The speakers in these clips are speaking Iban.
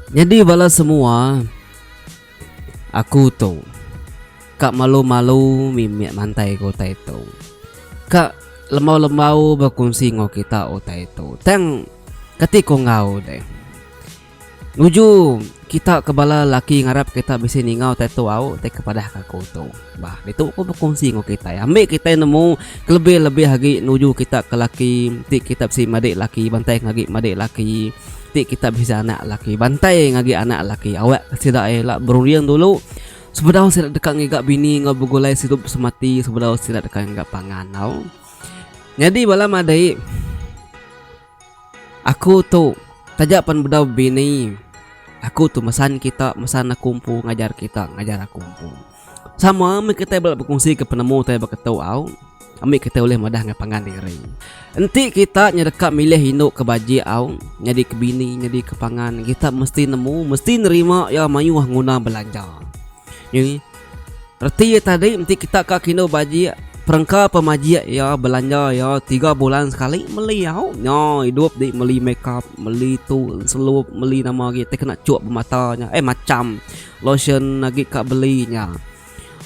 Nyadi bala semua aku tu ka malu-malu mimit mantai ke utai tu. Ka lembau-lembau bekunsi enggau kita utai tu. Tang kati ku enggau deh. Nuju kita ke bala laki ngarap kita bisi ningau tattoo au ti kepadah ke aku tu. Bah, ditu ku bekunsi enggau kitai. Ambi kitai nemu kelebih-lebih agi nuju kita ke laki ti kita bisi madik laki bantai ngagi madik laki ti kita bisi anak laki bantai ngagi anak laki awak ke sida ai la berunding dulu sebedau sida deka ngiga bini enggau begulai sidup semati sebedau sida deka ngiga pangan tau. Nyadi bala madai. Aku tu taja pan bedau bini aku tu mesan kita mesan aku empu ngajar kita ngajar aku empu. Sama meh kitai bala bekongsi penemu tai baka tu au ami kitai ulih madah enggau pangan diri. Enti kita nyau deka milih indu ke baji au nyadi ke bini nyadi ke pangan kita mesti nemu mesti nerima iya mayuh nguna belanja. Ye. Reti iya tadi enti kita ka kindu bajik perengka pemajik iya belanja iya tiga bulan sekali meli au nya idup di meli makeup meli tu selup meli nama agi ti kena chok bemata nya eh macham lotion agi ka beli nya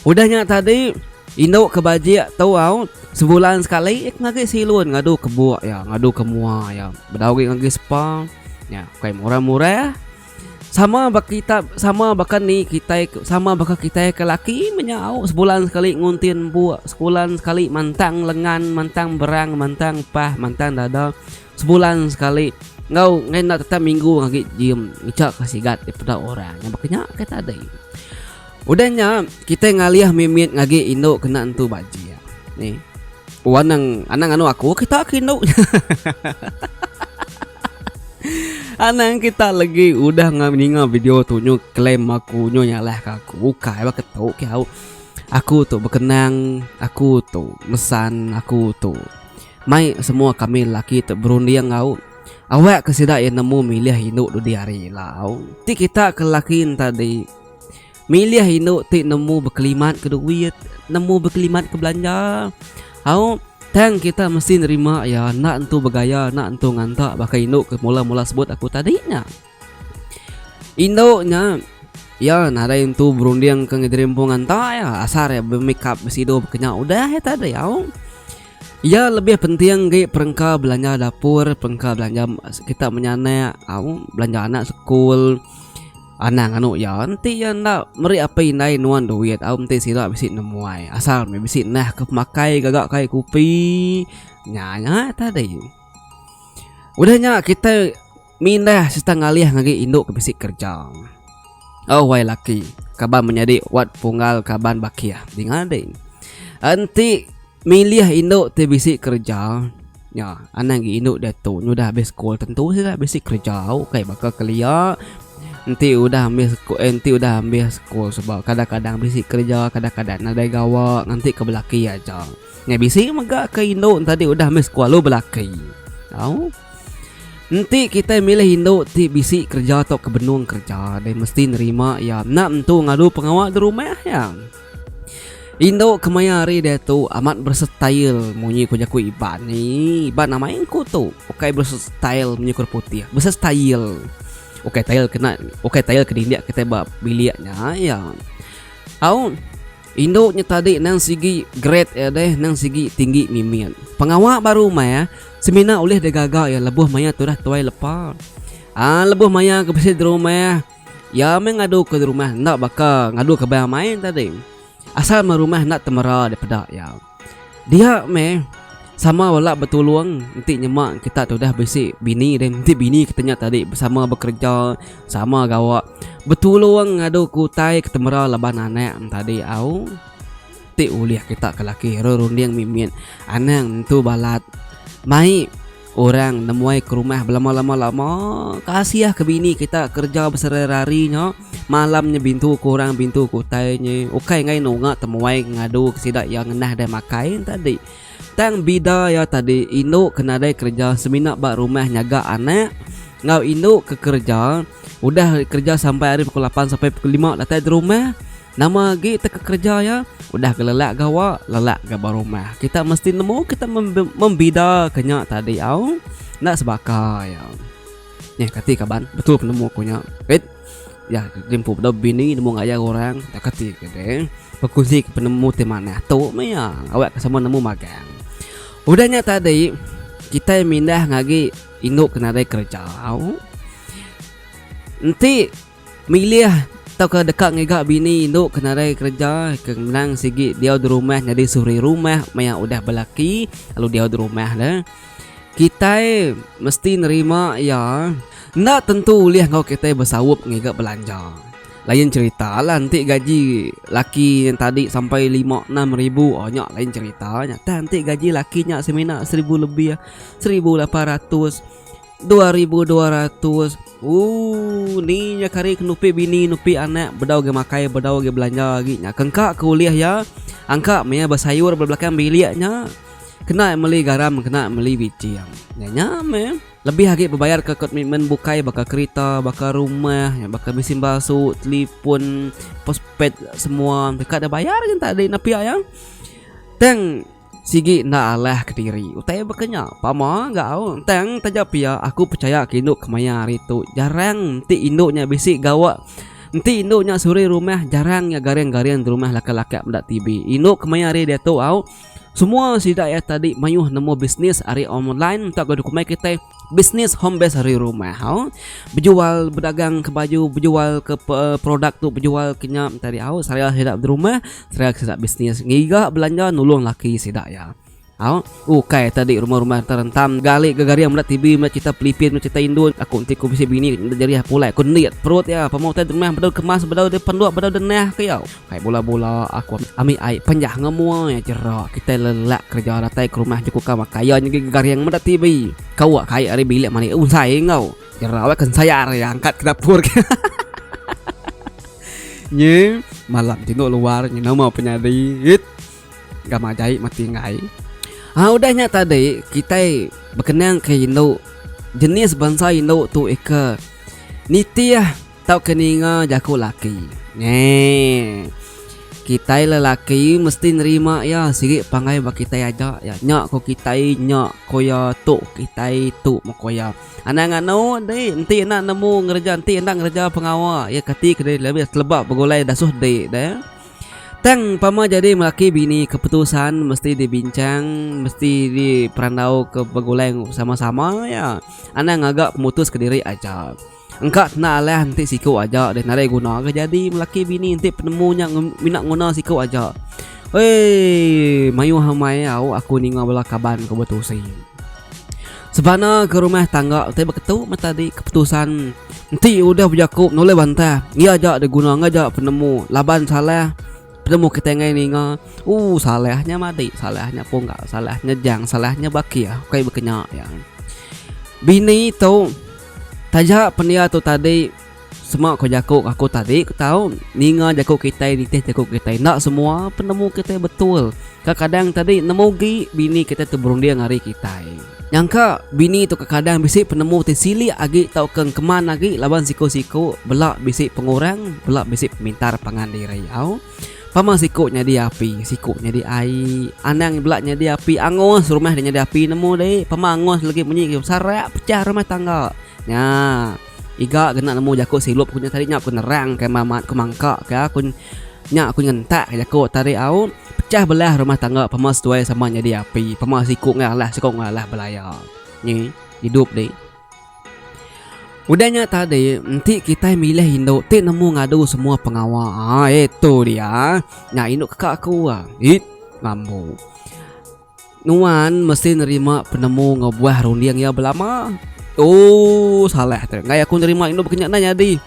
udah nya tadi indu ke bajik tu au sebulan sekali iya ke ngagai silun ngadu ke buk iya ngadu ke mua iya bedau agi ngagai spa nya bukai murah-murah. Sama ba kita sama baka ni kitai sama baka kitai ke laki menyau sebulan sekali ngunti empu sebulan sekali mantang lengan mantang berang mantang pah mantang dada sebulan sekali enggau ngena enda tetap minggu agi gym ngejak ka sigat daripada orang nyau baka nya kai tadai udah nya kitai ngalih mimit agi indu kena entu bajik ni wang nang anang andu aku kita ke indu. Anang kita lagi udah ngam ninga video tu nyu claim aku nyu nyalah ka aku ukai ba ketu ke au. Aku tu bekenang, aku tu mesan, aku tu mai semua kami lelaki tu berunding au. Awak ke sida iya nemu milih indu dudi hari ila au. Ti kita ke lelaki enti Milih indu ti nemu bekelimat ke duit, nemu bekelimat ke belanja. Au, tang kita mesti nerima iya enda entu begaya, enda entu nganta baka indu ke mula-mula sebut aku tadi nya. Indu nya iya nadai entu berundingka enggau diri empu nganta iya, asal iya bemikap besidu bekenya udah iya tadi au. Iya lebih penting agi perengka belanja dapur, perengka belanja kita menyanak au, belanja anak sekul. Anang anu iya, enti iya enda meri apai indai nuan duit au enti sida bisi nemuai asal meh bisi nah ke pemakai gaga kai kupi nya nya tadi. Udah nya kitai mindah sereta ngalih ngagai indu ke bisi kerja. Au wai laki, kaban menyadi wat punggal kaban bakih dinga ding. Enti milih indu ti bisi kerja. Nya, anang gi indu diatu nyudah habis sekul tentu sida bisi kereja au kai baka kelia enti udah ambil sekul eh, enti udah ambil sekul sebab kadang-kadang bisi kereja kadang-kadang nadai gawa nganti ke belaki aja. Nya bisi mega ke indu tadi udah ambil sekul lalu belaki. Au. Enti kita milih indu ti bisi kereja atau ke benung kereja deh mesti nerima iya enda entu ngadu pengawa di rumah iya. Indu kemaya hari diatu amat bersetail munyi ku jaku Iban ni. Iban amai ku tu. Ukai bersetail munyi ku orang putih. Bersetail. Ukai tail kena ukai tail ke dindik kitai ba bilik nya iya. Au indu nya tadi nang sigi grade iya deh nang sigi tinggi mimit. Pengawa ba rumah semina ulih digaga iya lebuh maya tudah tuai lepa. Aa lebuh maya ke bisi di rumah Iya meh ngadu ke rumah enda baka ngadu ke baya main tadi. Asal meh rumah enda temera dipeda iya. Dia meh sama bala betulung enti nyema kita tudah bisi bini deh. Enti bini kita nya tadi sama bekereja, sama gawa, betulung ngadu ke utai ke temera laban anak ne tadi au. Ti ulih kita ke laki runding mimit anang nentu balat mai. Orang nemuai ke rumah belama-lama lama kasiah ke bini kita kerja besererari nya malam nya bintu ke orang bintu ke utai nya ukai ngai nunga temuai ngadu ke sida iya ngenah deh makai enta di tang bida iya tadi indu ke nadai kerja semina ba rumah nyaga anak enggau indu ke kerja udah kerja sampai ari pukul lapan sampai pukul lima datai di rumah. Nama agi teka kereja iya? Udah ke lelak gawa, lelak ga ba rumah. Kita mesti nemu kita membida ke nya tadi au. Enda sebaka iya. Nyeh kati kaban, betul penemu aku nya. Rit, iya di empu bedau bini nemu ngajar orang. Enda kati ke deh. Bekuzi ke penemu ti manah tu meh iya. Awak ke sama nemu magang. Udah nya tadi, kitai mindah ngagi indu ke nadai kereja au. Enti. Milih tauka deka ngiga bini indu ke nadai kereja ke ngenang sigi diau di rumah nyadi suri rumah maya udah belaki lalu diau di rumah ne. Kitai mesti nerima iya enda tentu ulih enggau kitai besaup ngiga belanja. Lain cherita lah enti gaji laki yang tadi sampai lima enam ribu oh nya lain cherita nya tah enti gaji laki nya semina seribu lebih seribu lapan ratus. Dua ribu dua ratus. Ooh, ni nya kari ke nupi bini, nupi anak, bedau agi makai, bedau agi belanja agi nya. Kengka ke ulih iya, angka maya besayur ba belakang bilik nya, kena meli garam, kena meli biching. Nya nya meh. Lebih agi bebayar ke komitmen bukai baka kerita, baka rumah, baka mesin basu, telefon, postpaid semua. Ka deh bayar nya enta deh napi aya. Tang. Sigi enda alah kediri utai baka nya. Pama ga au tang taja pia aku pechaya ke indu kemaya hari tu jarang enti indu nya bisi gawa enti indu nya suri rumah jarang iya garing-garing di rumah lakat-lakat meda TV. Indu kemaya hari diatu au semua sida iya tadi mayuh nemu bisnis ari online tauka dokumai kitai. Bisnis home base ari rumah hau bejual bedagang ke baju bejual ke produk tu bejual ke nya tadi hau saya sida di rumah saya sida bisnis ngiga belanja nulung laki sida iya hau ukai tadi rumah-rumah enta rentam gali ga garing meda tv meda crita pelipin meda crita indu aku enti ku bisi bini enda jerih pulai ku enda perut iya pemau utai di rumah bedau kemas bedau di penduk bedau di neh ke iya. Kai bula-bula aku ambi ai penjah ngemua iya jera kitai lelak kereja datai ke rumah juku ka baka iya nyegi gegaring meda TV kawa kai ari bilik mali unsai enggau jera weh kensayar iya angkat ke dapur ke nyi malam ti endo luar nyi nama pe nyadi it gamak jai mati enggai ha udah nya tadi kitai bekenang ke indu jenis bansa indu tu ika nitih. Tau ke ninga jaku laki. Ngeeh. Kitai lelaki mesti nerima iya sigi panggay ba kitai aja iya nya ko kitai nya ko iya tu kitai tu meh ko iya. Anang anu di enti enda nemu ngereja enti enda ngereja pengawa iya kati ke diri lebih teleba begulai dasuh di deh. Tang pama jadi laki bini keputusan mesti di bincang mesti di perandau ke begulai sama-sama iya. Anang ngaga pemutus ke diri aja. Engka kena alah enti siku aja deh nadai guna ke jadi laki bini enti penemu nya mina nguna siku aja. Uiiiii mayuh amai au aku ninga bala kaban ku betusi. Sebana ke rumah tangga ti beketu meh tadi keputusan enti udah bejaku nulai bantah iya aja deh guna ngaja penemu laban salah penemu kitai ngagai ninga ooh salah nya madik salah nya pungga salah nya jang salah nya bakih kai bekenya iya. Bini tu. Taja pendia tu tadi sema ko jako aku tadi ko tau ninga jako kitai nitih jako kitai enda semua penemu kitai betul ka kadang tadi nemu gi bini kitai tu berunding ari kitai nyangka bini tu ka kadang bisi penemu ti silik agi tau ke engkeman agi laban siko siko bela bisi pengurang bela bisi pemintar pangan diri au. Pama siku nyadi api, siku nyadi ai. Anang bela nyadi api, angus rumah deh nyadi api nemu deh. Pama angus legi munyi sarak pecah rumah tangga. Nya iga kena nemu jaku silup ku nya tadi nya ku nerang ke mah mat ku mangka ke iya ku nya ku nyentak ke jaku tadi au pecah belah rumah tangga pama seduai sama nyadi api pama siku ngalah siku ngalah belaya. Nyi idup deh. Udah nya tadi, enti kitai milih indu ti nemu ngadu semua pengawa. Ah, eh tu dia. Nya indu keka aku ah. It, mambu. Nuan mesti nerima penemu ngebuah runding iya belama. Oh, salah tu. Enggai aku nerima indu baka nya nah nyadi.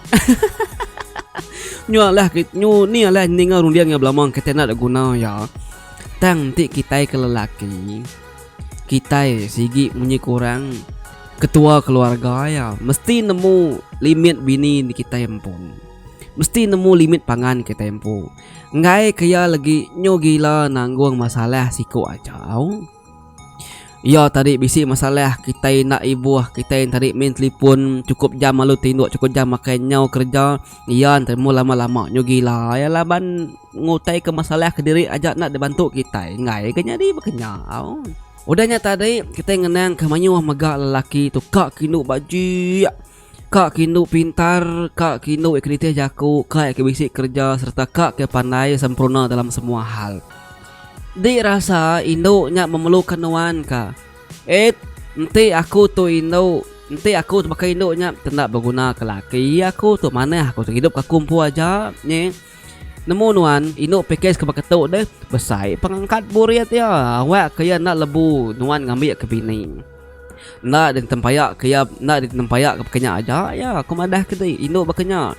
nyu alah nyu ni alah ninga runding iya belama kitai enda guna iya. Tang enti kitai ke lelaki, Kitai sigi munyi kurang ketua keluarga iya mesti nemu limit bini indi kitai empu. Mesti nemu limit pangan kitai empu. Enggai ke iya legi nyu gila nanggung masalah siku aja au. Iya tadi bisi masalah kitai enda ibuh, kitai tadi main telefon chukup jam lalu tinduk chukup jam makai nyau kereja iya nemu lama-lama nyu gila iya laban. Ngutai ke masalah kediri aja enda dibantu kitai enggai ke nyadi baka nya au. Udah nya tadi kitai ngenang ke mayuh mega lelaki tu ka kindu bajik, ka kindu pintar, ka kindu iya ke nitih jaku, ka iya ke bisi kerja sereta ka ke pandai sempurna dalam semua hal. Di rasa indu nya memerluka nuan ka. Ed, enti aku tu indu, enti aku tu baka indu nya tenda beguna ke laki aku tu manah aku tu hidup ka kumpu aja nyi. Nemu nuan indu pikes ke baka tu deh besai pengangkat burit ya awak ke ya enda lebu nuan ngambi ke bini enda di tempaya ke ya enda di tempaya ke baka nya aja ya aku madah ke ti indu baka nya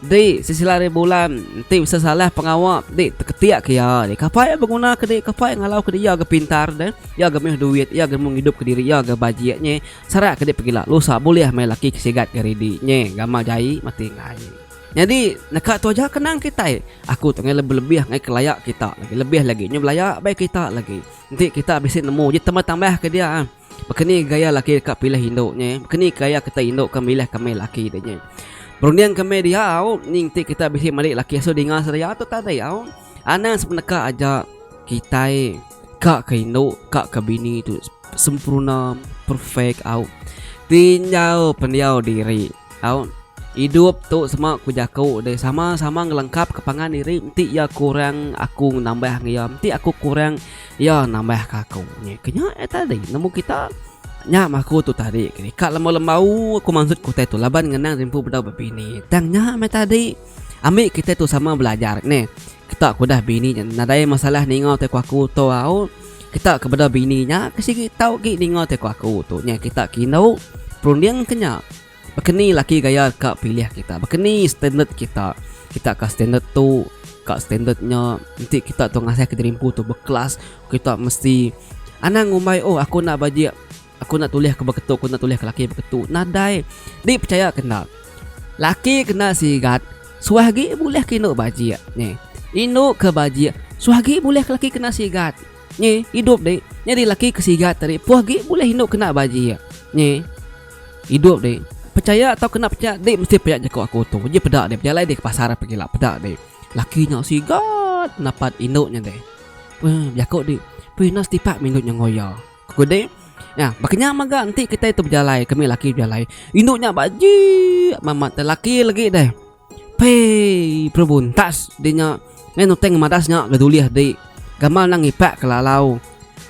di sesila ari bulan enti bisi salah pengawa di teketik ke ya di kapai ya beguna ke di kapai ngalau ke di ya ga pintar deh ya ga meh duit ya ga meh ngidup ke diri ya ga bajik nye sara ke di pegila lusa bulih meh laki ke sigat ke ridi nye gamal jai mati enggai. Nyadi, neka tu aja ke nang kitai. Aku tu ngai lebih-lebih ngai ke laya kita lagi. Lebih lagi nyu belaya bai kita lagi. Enti kita bisi nemu uji tambah-tambah ke dia. Baka ni gaya laki deka pilih indu nya eh. Baka ni gaya kita indu ke milih kami laki nya. Berunding ke meh diau, enti kita bisi meri laki asu dinga seraya tu tadi au. Anang sepeneka aja kitai ka ke indu ka ke bini tu sempurna perfect au tinjau pendiau diri au idup tu sema ku jaku de sama-sama ngelengkap ke pangan diri enti iya kurang aku nambah ngan iya enti aku kurang iya nambah ke aku nyi ke nya aja tadi nemu kita nya mah aku tu tadi ka lembau-lembau aku mansut ku utai tu laban ngenang rimpu bedau bebini tang nya meh tadi. Ambi kitai tu sama belajar ne. Kita ke udah bini nya nadai masalah ninga teko aku tu au. Kita ke beda bini nya ke sigi tau agi ninga teko aku tu nya kita ke indu perunding ke nya. Baka ni laki gaya ka pilih kita. Baka ni standard kita. Kita ka standard tu ka standard nya enti kita tu ngasah ke diri empu tu bekelas kita mesti anang ngumbai oh aku enda bajik. Aku enda tulih ke beketu, aku enda tulih ke laki beketu. Nadai. Di percaya ke enda. Laki kena sigat, suah agi bulih ke indu bajik. Ni. Indu ke bajik, suah agi bulih ke laki kena sigat. Ni, idup di. Nyadi laki ke sigat tadi, puh agi bulih indu kena bajik. Ni. Idup di. Percaya atau kena percaya, di mesti pia jaku aku tu. Ji peda di, bejalai di ke pasar pagi la, peda di. Laki nya sigat napat indu nya di. Puh, jaku di. Puh ina setipak mindu nya ngoyo. Kudi, nya, baka nya mega enti kitai tu bejalai ke mih laki bejalai, indu nya ba jeek mamat te laki legi deh. Pei perubuntas deh nya meh nuteng madas nya ke dulih dih gamal nang ngipak ke lalau.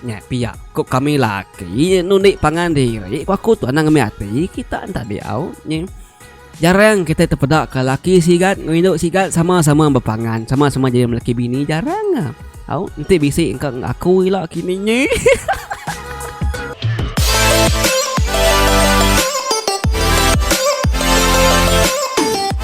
Nya pia ku kami laki nundi pangan diri ku aku tu anang ngemih ati kita enda diau nyeh. Jarang kitai tepeda ke laki sigat enggau indu sigat sama-sama bepangan, sama-sama jadi melaki bini. Jarang ah. Au, enti bisi engka enggau aku ila kini nyeh.